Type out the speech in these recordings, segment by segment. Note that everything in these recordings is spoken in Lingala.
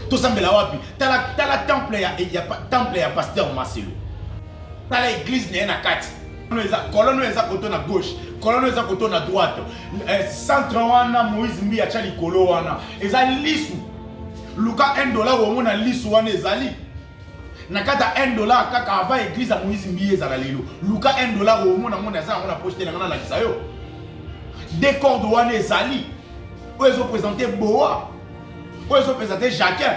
tosambela wapi tala tala temple ya, ya temple ya pasteur maselo tala eglise na ye na kati kolone oyo eza koto na gauche kolone eza koto na droite eh, centre wana moïse mbi atya likolo wana eza lisu luka 1 dollar omona lisu wana ezali na kati ya 1 dollar kaka avant eglise ya moïse mbi ezala lelo luka 1 dollar omona mona eza yango na poche te na ngai nalakisa yo decorde wana ezali oyo ezopresente boa oyo ezopesa te jacquin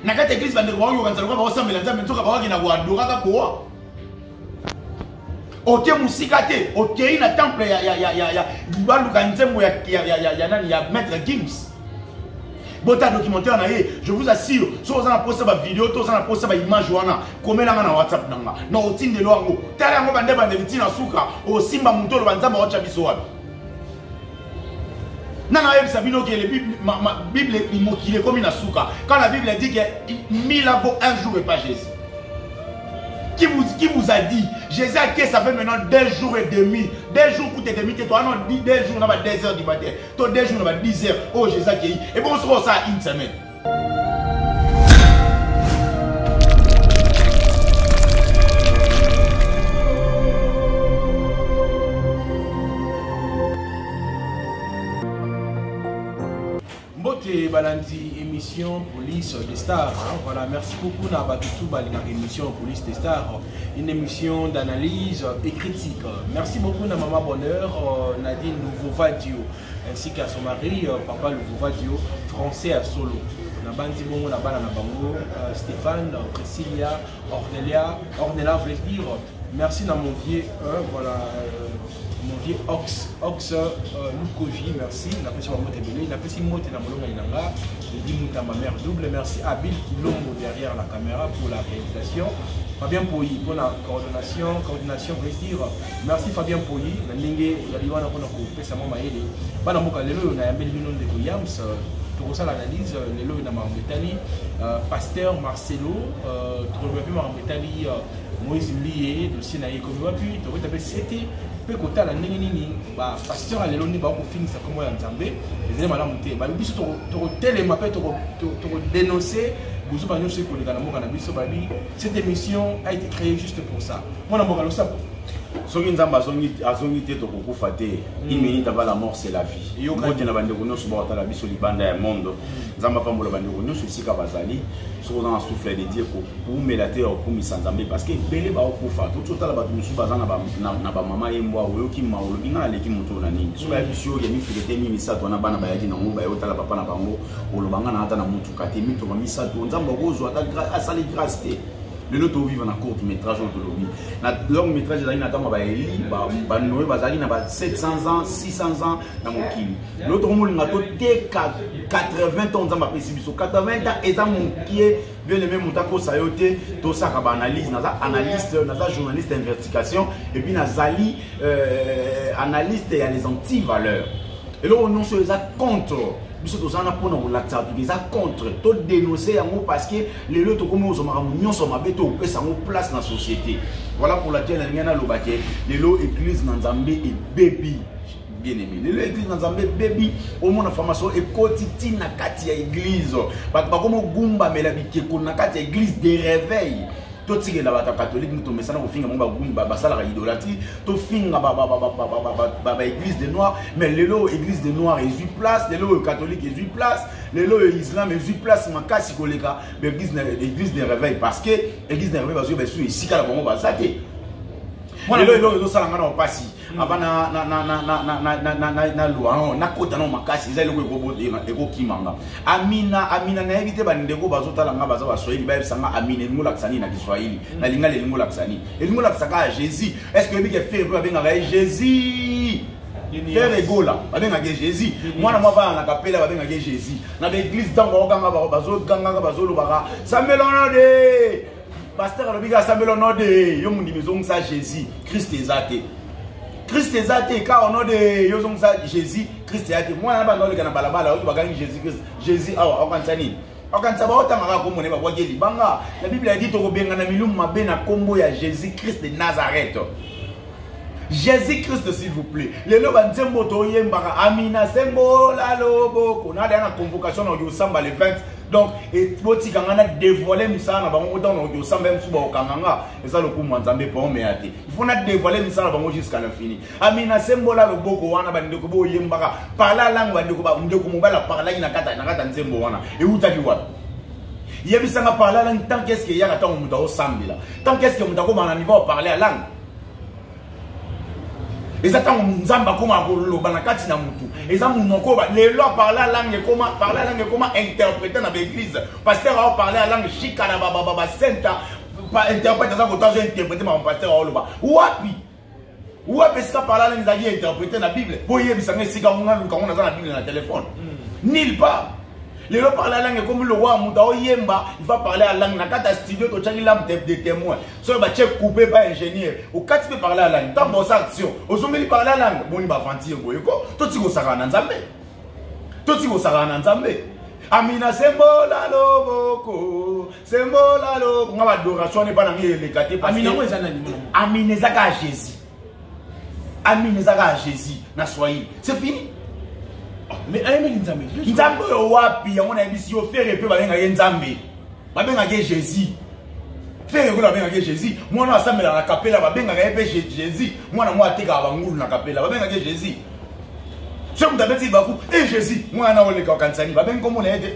na kati ya eglise bandeko baoyoka nzala lokola baosambela nzambe nzoka baoki na koadora kaka boa oke mosika te okei na temple ya baluka nzembo ya nani ya maître gims bota documentaire na ye je vous assure soki oza na mposa bavideo to oza na mposa baimage wana komelanga na whatsapp na nga na otindelo yango tala yango bandebandeli ntina suka osimba moto oloba nzambe aotya biso wapi nana ayebisa bino ke bible mokili ekomi na suka quand la bible dit que mille ans vaut un jour et pas jésus qui vous, qui vous a dit jésus ake ça fait maintenant deux jours et demi deux jours kuta demi te toa non deux jours na ba deux heures du matin to deux jours na ba dix heures oyo oh, jésus akei ebongo soki osala une semaine mbote balandi émission police de star voilà merci beaucoup na bato tout balingaka émission police de star une émission d'analyse et critique merci beaucoup na mama bonheur euh, nadine nouveau vadio ainsi qu'à son mari euh, papa Luvuvadio français ya solo nabanzi bongo na bana na bango euh, Stéphane Priscilla Ornelia Ornella voulais dire merci na mon vieux euh, voilà euh, mon vieux Ox Ox euh, Lukoji merci napesi bango tebele napesi mote na molonga inanga Lady Mouta ma mère double merci à Bill Kilombo derrière la caméra pour la réalisation Fabien Poyi pour la coordination coordination voulais dire merci Fabien Poyi na ndenge ya liwana mpona Sango Mayele, bana mboka lelo oyo nayambeli bino ndeko Yams euh, tokosala analyse euh, lelo oyo na makambo etali euh, pasteur Marcelo tokoloba mpe makambo etali Moïse Mbiye dossier na ye ekomi wapi tokota mpe sete mpe kotala ndenge nini bapasteur ya lelo nde bakofingisa nkombo ya nzambe ezali malamu te babi biso tokotelema mpe tokodenonse bozuba nyonso ekoleka na mboka na biso babi cette émission a été créée juste pour ça mwana mboka losapo soki nzambe azongi te tokokufa te hmm. une minute avant la mort c'est la vie mbote na bandeko nyonso bakotala biso libanda ya mondo hmm. nzambe apambola bandeko nyonso esika bazali soki oza na souffle de dieu koumela te ya kokumisa nzambe parce que ebele bakokufa toki otala bato mosusu baza na bamama ye mbwa oyoki ma olobi ngai naleki moto oyo na nini soki ayebisi yo ya mifile te mi misato wana bana bayaki nango baye otala papa na bango oloba ngai na ata na motuka te mitoka misato nzambe akozwa ata asali grace te lelo toviva na courte métrage oyo tolobi na longue métrage ezalaki na ntango baeli banoye bazalaki na ba 700 ans 600 ans na mokili lelo tokomolinga toteka 80 ans nzambe apesi biso 80 ans eza mokie bien aimé moto akosa yo te tosaka baanalyse naza analyste naza journaliste investigation epuis nazali euh, analyste ya les anti valeurs eloko nyonso eza contre biso tozana mpona kolakisa bato eza contre todénonce yango parce que lelo tokomi kozwa makambo nyonso mabe to kopesa yango place na société voilà pour laquelle nalingai naloba te lelo église na nzambe ebebi bien aimé lelo église na nzambe ebebi omona formation ekoti ti na kati ya église bato bakomi ogumbamela bikeko na kati ya église de réveil totikela bato ya katolike nde tomesana kofinga bango basalaka idolatrie tofinga baéglise de noir mais lelo église de noir ezwi place lelo oyo katolike ezwi place lelo oyo islam ezwi place makasi koleka baeglise de réveil parce que église de réveil bazwi basusu esika na bango baza te lelo eloko ezosala ngai na mpasi ava na lwao nakota nao makasi eza eloko ekokima nga amina amina nayebi te bandeko bazotala nga baza baswahili bayebisa nga amina elingi olakisa nini na kiswahili mm. na lingala elingi olakisa nini elingi olakisa kaka jésus est ce que oyebi ke fere mpe babengaka ye jésus Ferre Gola, babengaka ye Jésus. Mwana mwa bana na kapela babengaka ye Jésus. Na ba église tango bakokanga bango bazogangaka bazolobaka sambela ono de pasteur alobi kaka sambela ono de yo mondimi ezongisa Jésus Christ eza te. Christ eza te ka ono de yo ozongisa Jésus Christ eza te. Mwana na bana oleka na balabala oyo bakangi Jésus Christ. Jésus awa akokanisa nini? okanisa baotangaka komona babwaki libanga na biblia yadi tokobengana milumu mabe na nkombo ya jésus christ de nazareth Jésus Christ s'il vous plaît. Lelo ba nzembo to yembaka Amina sembo la lobo kona na convocation na Yosamba le 20. Donc et boti kanga na dévoiler misala na bango autant na Yosamba même suba okanga nga eza lokumu nzambe pa ome ate. Il faut na dévoiler misala na bango jusqu'à l'infini. Amina sembo la lobo ko wana ba ndeko bo yembaka parla langue ba ndeko ba ndeko mobala parla na kata na kata nzembo wana. Et utaki wapi? yebisanga parle langue tant qu'est-ce que yaka ntango moto aosambela tant qu'est-ce que moto akomana niveau ya parle ya langue eza ntango nzambe akomaka koloba na kati na motu eza monoko oyo lelo aparle alange ekoma parle alange ekoma interprete na baeglize paster ao parle alange shika na bababa basenta interprete aza kota azo interprete mama paster aoloba wapi wapi esika parle alange ezalaki interprete na bible mpo oyebisa nga esika ngo naluka ngo naza na bible na telefone hmm. nil part lelo parle alange ekomi lowa moto aoyemba il va parle alange na kati ya studio totyaki lampe de témoin soki batie coupe epa ingénieur okati mpe parle ya langue ntango oza action ozongeli parle ya langue boni baventure boye ko toti kosakana na nzambe toti kosakana na nzambe amina sembola loboko sembola loboko nga badoration wana epa nange eleka te amina eza kaka jésus Amin ezaka à Jésus na soyez. C'est fini. Ah, mais ayemeli Nzambe. Nzambe oyo wapi yango na yebisi yo fere pe babenga ye Nzambe. Babenga ye Jésus. Fere yango babenga ye Jésus. Mwana asambela na kapela babenga ye pe Jésus. Mwana mwa ateka bangulu na kapela babenga ye Jésus. Ce que vous avez dit, Bakou, et Jésus, moi, on a olé, quand ça n'y va, ben, comme on l'a aidé.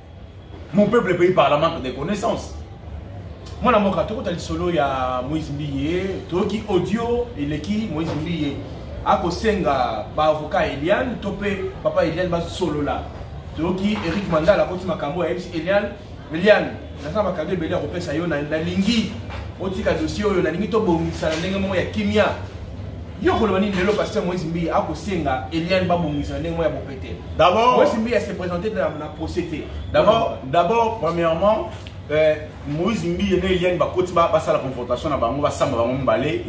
Mon peuple pays par la manque de connaissances. mwana mboka tokota lisolo ya moïse mbiye toyoki audio eleki moïse mbiye akosenga baavoka eliane to mpe papa eliane basolola toyoki eric mandala akoti makambo ayebisi eliane eliane naza makado ebele ya kopesa yo nalingi otika dossier oyo nalingi tobongisa na ndenge moko ya kimia yo koloba nini lelo pasteur moïse mbiye akosenga eliane babongisa ndenge moko ya bopete d'abord moïse mbiye ase présente na procès te d'abord d'abord premièrement euh, moïse mbiye na eliane bakoti basala confrontation na bango basamba bango mibale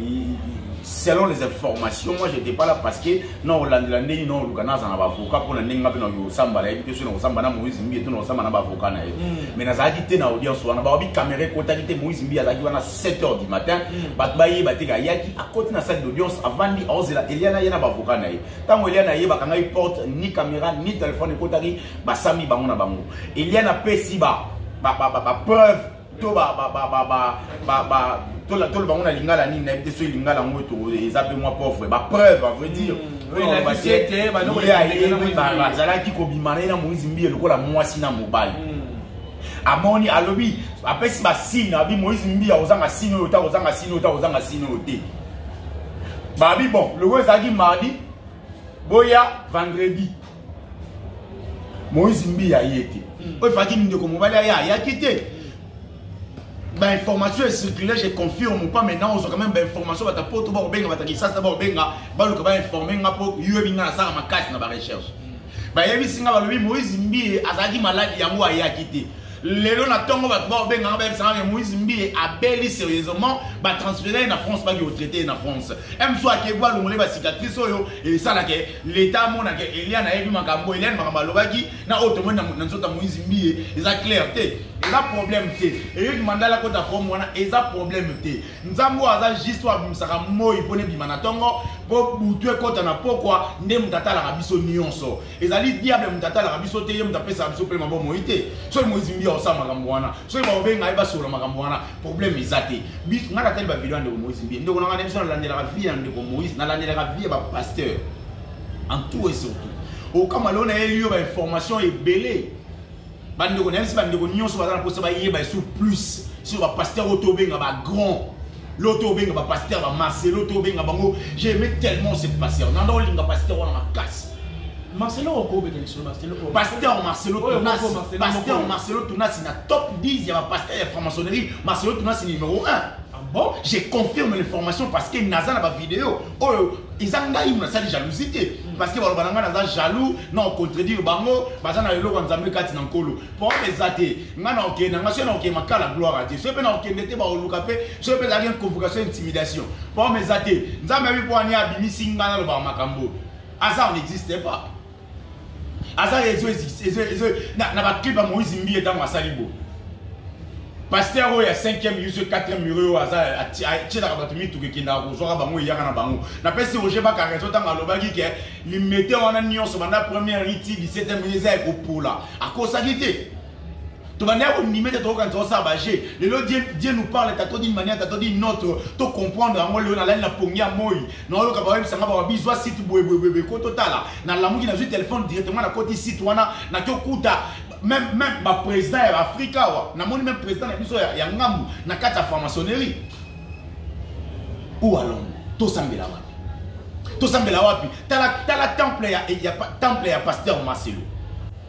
selon les informations moi j'étais pas là parce que na olandela ndenge na oluka naza na bavoka mpona ndenge nga mpe na kosamba nayebi te soki na kosamba na moïse mbiye to na kosamba na bavoka na ye mais nazalaki te na audience wana baobi kamera ekotaki te moïse mbiye azalaki wana 7 heures du matin mm. bato bayeba te ayaki akoti na salle d'audience avandi aozela eliana ye na bavoka na ye ntango eliana ye bakangaki porte ni caméra ni telefone ekotaki basami bango na bango eliana apesi bapreuve to toloba yango na lingala nini nayebi te soki lingala yango eza mpe mwa pauvre bapreuve a vrai dire mm. azalaki kobima na ye na moizi mbiye lokola mwasi na mobali mm. amoni alobi apesi basine abi moïse mbiya ozanga sine oyo ta ozanga sine oyo ta ozanga sine oyo te babi bon lokola ezalaki mardi boya vendredi moïse mbiya ye te hmm. oyo efaki ndeko mobali aya ayaki te bainformation ecircule je confirme pas maintenant ozwa quand même bainformation bata poto bakobenga bata kisasa bakobenga baluka bainforme nga mpo yo ebi nga nasala makasi na barecherche bayebisi nga balobi moïse mbiye azalaki maladi yango ayaki te lelo na ntongo bato baobenganga bayebisanga ke moïse mbiye abeli sérieusement batransfere ye na france baki kotraite ye na france mso akei balongole bacicatrice oyo esalaka leta amonaka eliane ayebi makambo eliane makambo alobaki na oyo tomoni na nzoto ya moïse mbiye eza claire te eza problème te eyoki mandala kota pome wana eza problème te nzambe oyo aza juste oyo abimisaka moi mpona ebima na ntongo mpo butu ekɔta na pokwa nde moto atalaka biso nyonso ezali diable moto atalaka biso te ye moto apesaka biso mpe mabo moi te soki moizimbi akosala makambo wana soki bakobenga ye basolola makambo wana problème eza te biso ngai natali bavideo ya ndeko moizimbi ndeko na ngai na biso nalandelaka vie ya ndeko moïse nalandelaka vie ya bapasteur en tout et surtout okamwa leo nayeli yo bainformation ebele bandeko nayebisi bandeko nyonso baza na mposa bayeba esu plus sur bapaster oyo tobenga bagrand lo tobenga bapaster bamarcelo tobenga bango jaime tellement se paster nanda olinga paster wana makasi Marcelo okobeta lisolo Marcelo oh. Pasteur oh, Marcelo Tunasi Pasteur Marcelo Tunasi na top 10 ya ba pasteur ya franc-maçonnerie Marcelo Tunasi numéro 1 bon je confirme l'information parce que naza na bavideo oyo eza ngai mo nasali jalousie te parce que baloba na ngai naza jaloux na ocontredire bango baza na eloko ya nzambe kati na nkolo problème eza te ngai na okende ngai soki na okende makala gloire a dieu soki mpe na okende te baoluka mpe soki mpe ezalaki convocation intimidation problème eza te nzambe abi mpo ani abimisi ngai nalobaka makambo aza on n'existe pas aza ezo ezo ezo na na ba clip ya Moïse Mbiye tango asali bo pasteur oyo ya 5e yusu 4e mure oyo aza atyelaka bato mituka ekendaka kozwaka bango eyaka na bango napesi roger bakara ezo ntango alobaki ke limete wana nyonso banda première iti 17e eza ya kopola akosaki te tobandaki konime te tokokanisa osala baje lelo dieu nous parle tato dine manière tato dine notre to comprendre yango lelo nalali na pongi ya moi naoyoka baoyebisa nga bawa bizwa site boyeboyeboye ko totala nalamuki nazwi telefone directement nakoti site wana naki okuta même même baprésident ya baafrika awa namoni même président na biso ya ngambu na kati ya franc-maçonnerie ou à londres tosambela wapi tosambela wapi tala tala temple ya, ya temple ya pasteur marcelo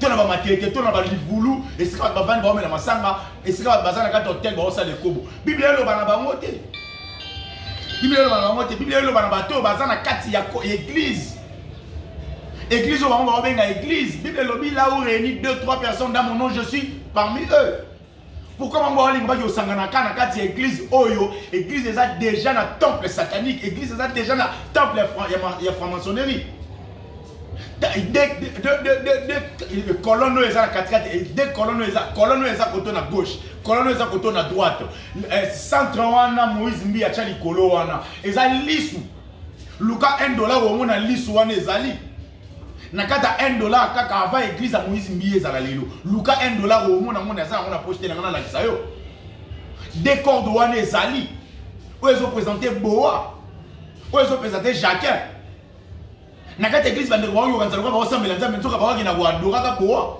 to na bamatete to na balivulu esika bato bavandi baomela masanga esika bato baza na kati ya hotel baosala ekobo biblia eloba na bango te biblia eloba na bango te biblia eloba na bato oyo baza na kati ya eglize eglize oyo bango baobenga eglize biblia elobi la ou réuni deux trois personnes dans mon nom je suis parmi eux pourquoi bango balingi baki osanganaka na kati ya église oyo église eza déjà na temple satanique église eza déjà na temple ya franc-maçonnerie colonne oyo eza na katikati eh, de colonne eza colonne oyo eza koto na gauche colonne oyo eza koto na droite eh, centre wana moïse mbi atya likolo wana eza lisu luka 1 dollar omona lisu wana ezali nakata 1 dollar kaka avant église ya moïse mbiye ezala lelo luka 1 dollar omona mona aza yango na poche te na ngai nalakisa yo decorde wana ezali oyo ezopresente boa oyo ezopresente jacquin na kati ya eglise bandeko baoyoka nzala kwa baosambela nzambe nzoka baoki na koadoraka boa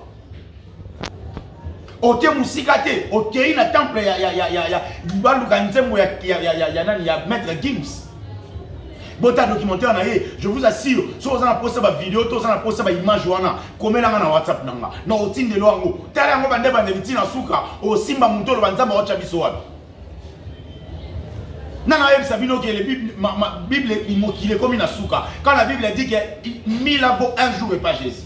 oke mosika te okei na temple ya, ya, ya, ya, ya baluka nzembo ya, ya, ya, ya, ya, nani ya maître gims bota documentaire na ye je vous assure soki oza na mposa bavideo to oza na mposa baimage wana komelanga na whatsapp na nga na otindelo yango tala yango bande bandeli ntina suka osimba moto oloba nzambe aotya biso wapi nana ayebisa bino ke bible mokili ekomi na suka quand la bible dit que mille ans vaut un jour et pas jésus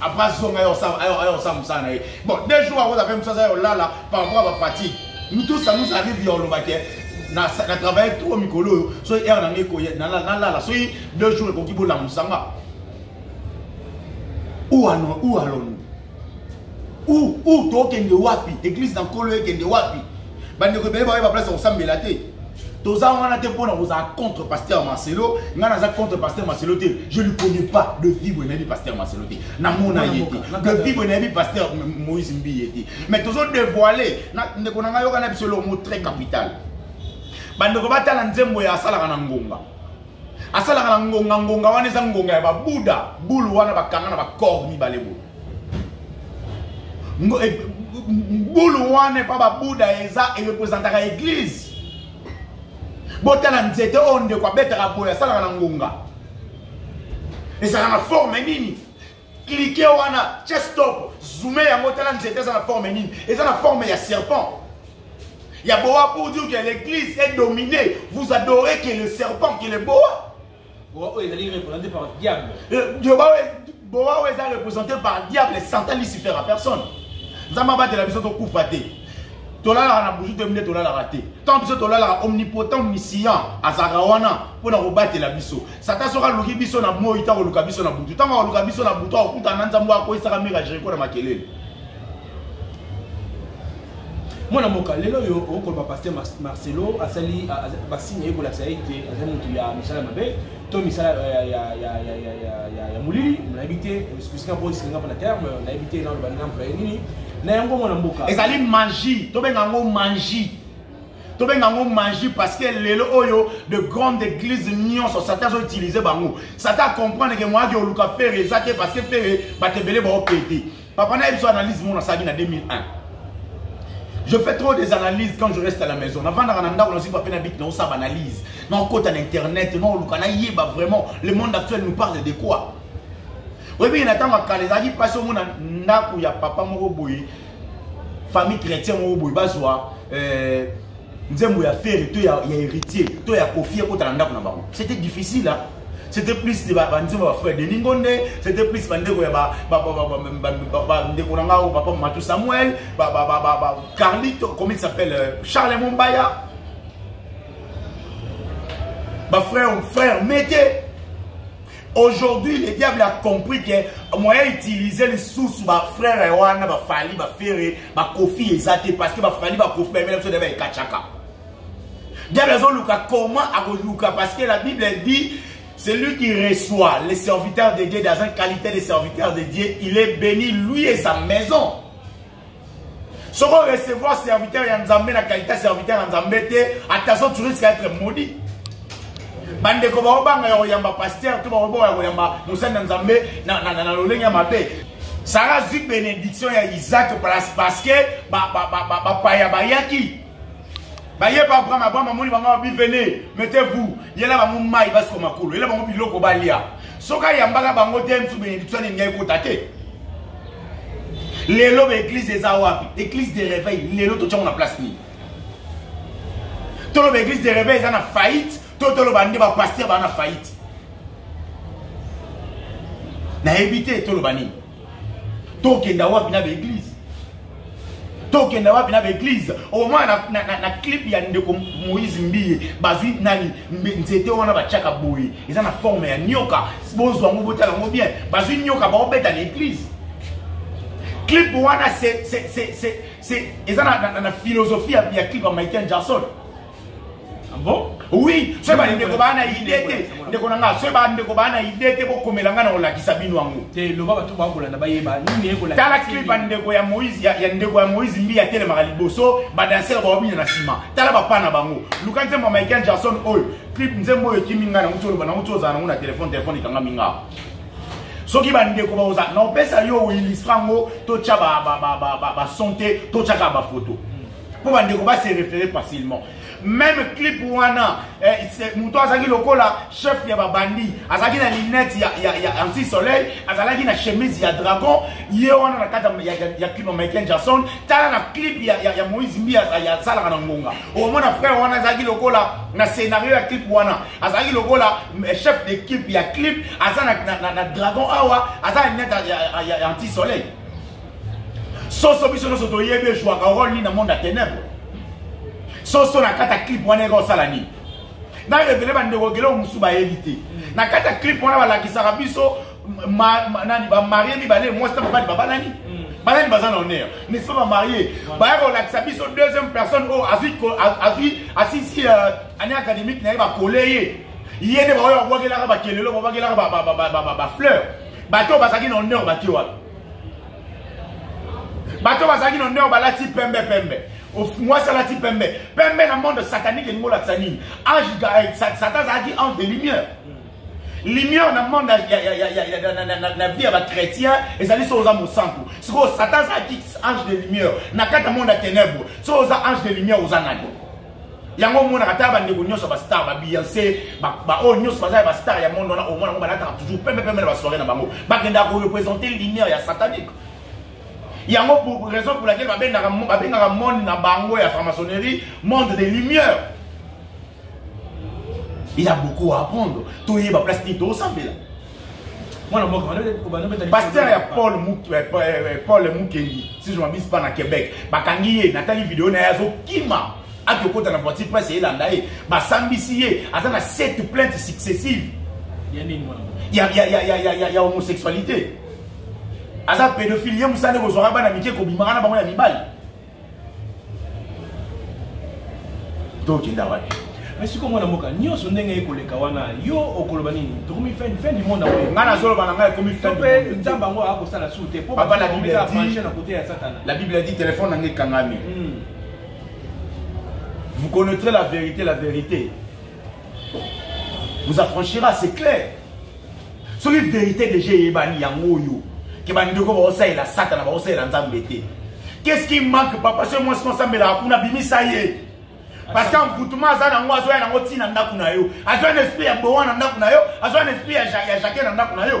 Après azonga ayo osala mosala na ye. Bon, deux jours akoza mpe mosala ya olala par rapport à bafatigue. Nous tous, ça nous arrive ya oloba ke na travaille trop mikolo oyo soki heure na ngai ekoye nalala soki deux jours ekoki bolamusa nga ou allons-nous ou tokende wapi église na nkolo ekende wapi bandeko ebele baoye baplace ya kosambela te toza wana te mpo na kozala contre pasteur marcelo ngai naza contre pasteur marcelo te je lui connais pas de vibre nayebi pasteur marcelo te namona ye te de vibre nayebi pasteur moïse mbi ye te mais tozo dévoile ndeko na ngai yoka na biso elomo très capital bandeko batala nzembo ya asalaka na ngonga asalaka na ngonga ngonga wana eza ngonga ya babuda bulu wana bakanga na bacor mibale boye eh, bulu wana epa babuda eza erepresentaka eglise botala nzete oyo ndeko abetaka boye asalaka na ngonga ezala na forme nini klike wana chestop zume yango tala nzete eza na forme nini eza na forme ya serpent ya boa pour dire que l'église est dominée vous adorez que le serpent que le boa Boa oyo ezali représenté par diable. Eh, Boa oyo eza représenté par diable Satan Lucifer à personne. Nzambe abatela biso tokufa te. tolalaka na buzu te mine tolalaka te ntango biso tolalaka omnipotent omniscient azalaka wana mpo na kobatela biso satan soki aluki biso na moi ntango oluka biso na butu ntango aluka biso na butu akokutana na nzambe akoyisaka mire ya jeriko na makelele mwana mboka lelo oyo okoloba paster marcelo asali basini aye kolakisa ye te azali motu ya misala mabe to misala ya molili nayebi te bisika mpo esinga mpo na terme nayebi te naloba nina mpaya nini na yango mwana mboka ezali mangi tobenga yango mangi tobenga yango magie parce que lelo oyo de grande église nyonso satan azoutilize bango satan acomprendre ke moyaki oluka fere eza te parce que fere bato ebele baokete Papa na biso analyse mon asaki na 2001. Je fais trop des analyses quand je reste à la maison. Na vanda na ndako na zipa pe na bit na osaba analyse. Na okota na internet, na oluka na yeba vraiment le monde actuel nous parle de quoi? Oyebi na tango kala ezalaki pasi omona ndako ya papa moko boye famille chrétien moko boye bazwa euh, nzembo ya fere to ya, ya héritier to ya kofie ekota na ndako na bango. C'était difficile hein? c'était plus de banzembo ya bafrère denis ngonde c'était plus bandeko ya bandeko na ngai oyo papa matou samuel carlito comment il s'appelle euh, charles mombaya bafrère frère mete aujourd'hui le diable a compris que moyen utiliser lisusu bafrère ya wana bafali bafere bakofi eza te parce que bafali bakofi bamela biso nde baekatchaka Diable azoluka comment akoluka parce que la Bible dit celui qui reçoit les serviteurs de Dieu dans une qualité de serviteur de Dieu, il est béni lui et sa maison. Ce qu'on recevoir serviteur ya Nzambe na qualité serviteur ya Nzambe te, attention tu risques d'être maudit. bandeko baobanga ya koyamba pasteur to bakoboka ya koyamba mosali na nzambe na lolenge ya mabe sara azwi benediction ya isaac parce que bapaya bayaki baye ba abraham abraham amoni bango babi vene mettez vous yela bango mai basiko makolo yela bango biloko balia soki ayambaka bango te mosusu benediction nini ngai ekota te lelo baeglise eza wapi eglise de réveil lelo totyango na place nini toloba eglise de réveil eza na faillite to toloba nde bapaster baa na faillite nayebi te toloba nini tokenda wapi na baeglize tokenda wapi na baeglize omona na, na, na, na clip ya ndeko moïse mbiye bazwi nani nzete wana batyaka boye eza na forme ya nyoka bozwa yango botala yango bien bazwi nyoka baobeta na eglize clip wana eza na, na, na, na philosophie ya, ya clip ya michael jackson Ah bon oui soki bandeko baa na ide te ndeko na ngai soki bandeko baa na ide te bokomela ngai na kolakisa bino yango te loba bato bakolanda bayeba nini ekolakisa tala clip ya ndeko ya moïse ya, ya ndeko ya moïse mbi atelemaka liboso badansere baobina na nsima tala bapa na bango luka nzembo ya michael jackson oyo clip nzembo oyo ekimi ngai nango tioloba nango tiozala nango na telefone telefone ekangami ngaa soki bandeko baoza na opesa yo oilistra yango totya bason te totyaka bafoto mpo bandeko ba se référé facilement même clip wana eh, moto azalaki lokola chef ya babandi azalaki na linete ya, ya, ya anti soleil azalaki na chemise ya dragon ye wana na kati ya, ya, ya clip ya michael jackson tala na clip ya, ya, ya moïse mbi asalaka na ngonga omona frère wana azalaki lokola na scénario ya clip wana azalaki lokola eh, chef d'équipe ya clip aza na, na, na, na dragon awa aza na linete ya, ya, ya, ya anti soleil soso biso nyonso toyebi ejwaka role nini na monde ya tenebre soso na kati ya clip wana eka osala nini na revele bandeko geleo mosusu bayebi te na kati ya clip wana balakisaka biso nani bamarie mibale mwasi na mobali babalani mm. banani baza na honneur n'est-ce pas bamarie baya kolakisa biso deuxième personne oyo azwi asisi euh, année académique na ye bakole ye ye nde baoyo babwakelaka bakelelo babwakelaka bafleur bato oyo bazalaki na honneur bake wapi bato bazalaki na ndeo balati pembe pembe mwasi alati pembe pembe na monde satanique elingi olakisa nini age eh, satan azalaki ange de lumière lumière na monde na vie ya bachrétien ezali soki oza mosantu sikoyo satan azalaki ange de lumière na kati ya monde ya ténèbre soki oza ange de lumière oza nani yango omonaka ata bandeko nyonso ya bastar babiance baoyo nyonso baza ya bastar ya monde wana omona yango balataka toujours pembe pembe na basoire na bango bakendaka korepresente lumière ya satanique yango pour raison pour laquelle babengaka monde na bango ya franc-maçonnerie monde de lumière il y a beaucoup à apprendre toyeba place nini tosambela pasteur ya paul eh, eh, eh, paul mukendi si je mabise pas na québec bakangi ye natali video na ye azokima ake okota na voiture presse elanda ye basambisi ye aza na sept plainte successive ya, ya, ya, ya, ya, ya, ya homosexualité aza pédophile ye mosala nde kozwaka bana mike kobimaka na bango ya mibali tokenda wapi mais sikoyo mwana mboka nyonso ndenge ye koleka wana yo okoloba nini tokomi fin fin du monde yango ngai nazoloba na ngai ekomi fin du monde nzambe yango akosala su te mpo papa la bible ya dit na kote ya satana la bible a dit téléphone na ngai ekangami hmm. vous connaîtrez la vérité la vérité vous affranchira c'est clair soki vérité déjà eyebani yango oyo ke bandeko baosalela satana baosalela nzambe te qu'est-ce qui manque papa soki mwasi mosambelaka kuna bimisa ye parce que envoûtement aza nango azoya nango ntina ndako na yo azoya na esprit ya bowa na ndako na yo azoya na esprit ya jacquet na ndako na yo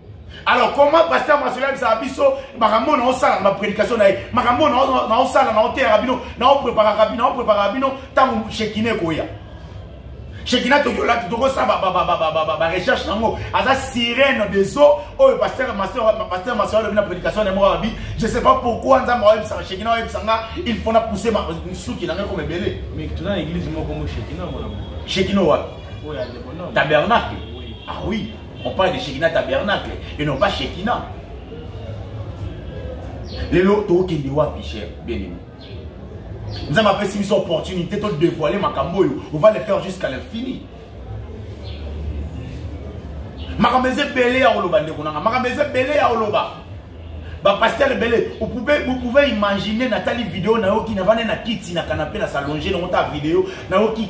alors comment pasteur masolo ayebisaka biso makambo na osala na baprédication na ye makambo na osala na oteyaka bino na opreparaka bino na opreparaka bino ntango shekina ekoya shekina tokiolaki tokosala barecherche na yango aza sirene des eaux oyo pasteur masolo alobi na prédication na ye moko alobi je sais pas pourquoi nzambe ayebisaka shekina ayebisa nga il faut na pouse nsuki na ngai koma ebele mais tuna na église moko mo shekina mona shekina wapi tabernacle ah oui On parle de Shekinah Tabernacle et non pas Shekinah. lelo tokende wapi cher bien aimé nzambe apesi biso opportunité todévoile makambo oyo on va le faire jusqu'à l'infini makambo eza ebele ya koloba ndeko nanga makambo eza ebele ya koloba bapaster ebele vous pouvez imaginer natali video nayoki navande na kiti na kanape na salonge nango ta video nayoki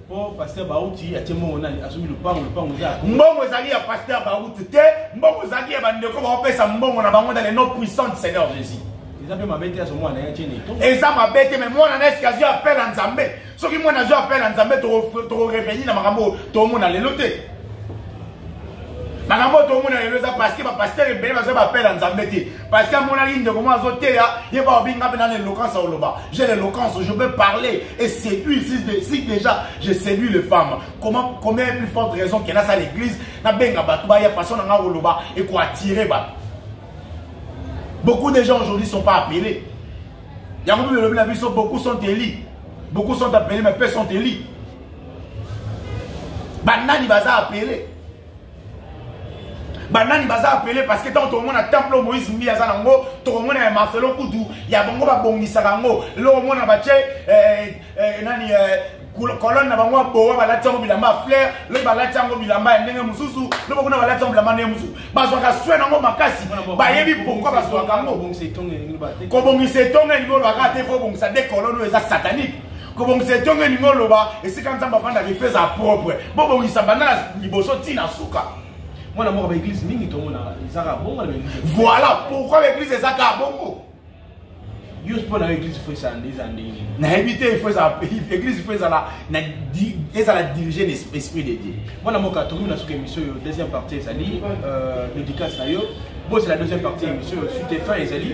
po pasteur bauti atie mbongo nani azongi lupango lupango eza mbongo ezali ya pasteur bauti te mbongo ezalaki ya bandeko baopesa mbongo na bango na le nom puissant du seigneur jésus eza mpe mabe te azo mwana ya tiene eza mabe te me mwana na eske azwi appel ya nzambe soki mwana azwi appel ya nzambe tokoreveni na makambo oyo tomona lelo te makambo oyo tomona lelo eza parceke bapastere ebele bazwi baappel ya nzambe te parce que amonaki ndeko moko azoteya ye baobi nga mpe na l'éloquence ya koloba j'ai l'éloquence je peux parler et séduire si, si déjà je séduis les femmes comment combien plus forte raison que nasa l'église nabenga bato baya façon na nga koloba ekoattire bato beaucoup de gens aujourd'hui sont pas appelés yango mpe elobi na biso beaucoup sont élus beaucoup sont appelés mais peu sont élus banani baza appelés banani baza apele parce que ntango tokomona temple oyo moïse mbi aza nango tokomona ya marcelo kutu ya bango babongisaka yango eloko omona batye eh, eh, nani eh, kolone na bango ya bowa balati yango bilamba ya flaire lobi balati yango bilamba ya ndenge mosusu lobi kuna balati yango bilamba ndenge mosusu bazwaka swe nango makasi bayebi pourkoi bazwaka yango kobongisa etonga elingi olobaka te fo obongisa de kolone oyo eza satanique kobongisa etonga elingi oloba esika nzambe afandaka efe eza propre bobongisa banda na liboso ti na suka mwana moko baeglise mingi tomona ezaka bongo na baeglise voilà pourquoi baeglise ezaka bongo yo mpo na yo eglise fo ezala nde eza ndenge nini nayebi te fo ezala eglise fo ezala na ezala dirige na esprit de dieu mwana moko atomi na suka émission oyo deuxième partie ezali euh, dédicace na yo bozela deuxième partie émission oyo suite fin ezali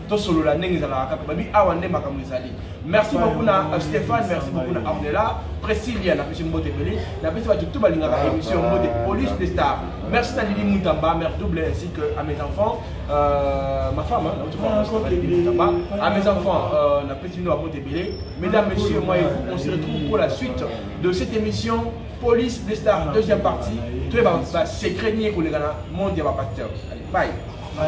tosolola ndenge ezalaka kaka babi awa nde makambo ezali merci beaucoup na euh, stéphane merci beaucoup na ornela précilia napesi mbote ebele napesi bato tu balingaka ah, émission ah, mbote ah, police de star merci na lili mutamba mère double ainsi que à mes enfants euh, ma femme mutamba à mes enfants euh, napesi bino babote ebele mesdames messieurs moi et vous on se retrouve pour la suite de cette émission police de star deuxième partie toyeba basecret nini ekoleka na monde ya bapasteur allez bye